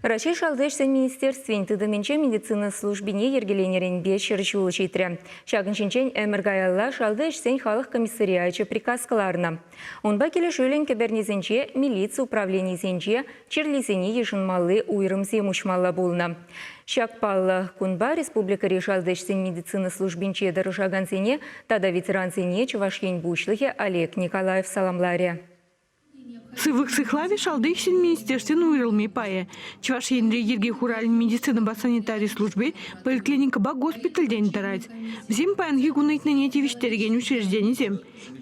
Раҫҫей Шалти ӗҫсен министерствин тытӑмӗнче медицина службине йӗркеленӗренпе ҫӗр ҫул ҫитрӗ. Ҫакӑн ҫинчен ӗмӗр каялла Шалти ӗҫсен халӑх комиссариачӗ приказ кӑларнӑ. Унпа килӗшӳллӗн кӗпернисенче, милици управленийӗсенче чирлисене йышӑнмалли уйрӑмсем уҫмалла пулнӑ. Ҫак паллӑ кунпа республикӑри Шалти ӗҫсен медицина службинче тӑрӑшакансене тата ветерансене Чӑваш Ен Пуҫлӑхӗ Олег Николаев саламларӗ. Сывлӑх сыхлавӗ шалти ӗҫсен министерствин уйрӑлми пайӗ. Чӑваш Енре йӗрке хуралӗн медицинӑпа санитари служби поликлиникӑпа госпитальтен тӑрать. Вӗсем паянхи кун ыйтнине тивӗҫтерекен учрежденисем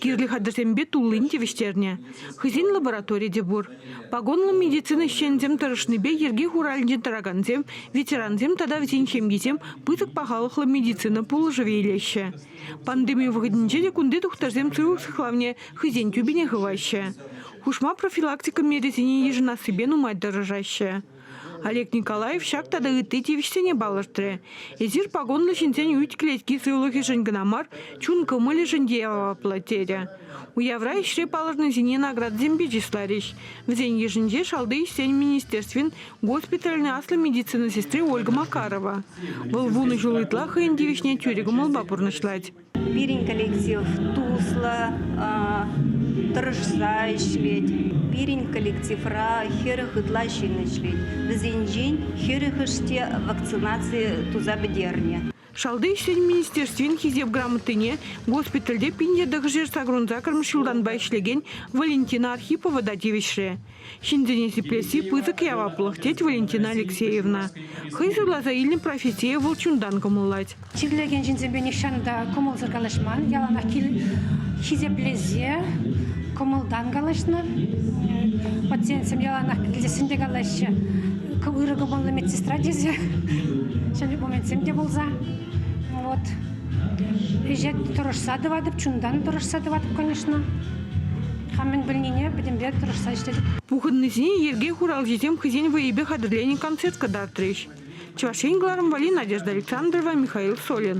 кирлӗ хатӗрсемпе туллин тивӗҫтернӗ. Хӑйсен лабораторийӗ те пур. Погонлӑ медицина ӗҫченӗсем тӑрӑшнипе йӗрке хуралӗнче тӑракансем, ветерансем тата вӗсен ҫемйисем пысӑк пахалӑхлӑ медицина пулӑшӑвӗ илеҫҫӗ. Пандеми вӑхӑтӗнче те кунти тухтӑрсем сывлӑх сыхлавне хӑйсен тӳпине хываҫҫӗ. Хушма профилактика мерисене йышӑнассипе нумай тӑрӑшаҫҫӗ. Олег Николаев ҫак тата ытти тивӗҫсене палӑртрӗ. Эсир пакунлӑ ҫынсен ӳт клетки сывлӑхӗшӗн кӑна мар, чун кӑмӑлӗшӗн те яваплӑ, терӗ. Уявра ӗҫре палӑрнисене наградӑсемпе чысларӗҫ. Вӗсен йышӗнче Шалти ӗҫсен министерствин Госпитальӑн аслӑ медицина сестри Ольга Макарова. Вӑл вунӑ ҫул ытла хӑйӗн тивӗҫне тӳрӗ кӑмӑлпа пурнӑҫлать. Пирӗн коллектив туслӑ, тӑрӑшса ӗҫлет. Пирӗн коллективра хӗрӗх ытла ҫын ӗҫлет. Вӗсенчен хӗрӗхӗш те вакцинаци туса пӗтернӗ. Шалти ӗҫсен министерствин Хисеп грамотине госпитальте пин ятӑхӑшӗ сакӑрун-сакӑрмӗш ҫултанпа ӗҫлекен Валентина Архипова та тивӗҫрӗ. Ҫынсене сиплесси пысӑк яваплӑх, тет Валентина Алексеевна. Хӑй суйласа илнӗ профессие вӑл чунтан кӑмӑллать. Чирлекен ҫынсемпе нихҫан та кӑмӑлсӑр калаҫман, яланах кил хисеплесе кӑмӑлтан калаҫнӑ. Пациентсем яланах килте сӗнте калаҫҫӗ. ырӑ кӑмӑллӑ медсестра тесе ҫӗнӗ моментсем те пулса вот ӗҫе тӑрӑшса тӑватӑп чунтан тӑрӑшса тӑватӑп конечно хам мӗн пӗлнине пӗтӗмпе тӑрӑшса ӗҫлетӗп пухӑннисене йӗрке хуралҫисем хӑйсен вӑйӗпе хатӗрленӗ концерт кӑтартрӗҫ чӑваш ен кӑларӑмвӑлли надежда александрова михаил солин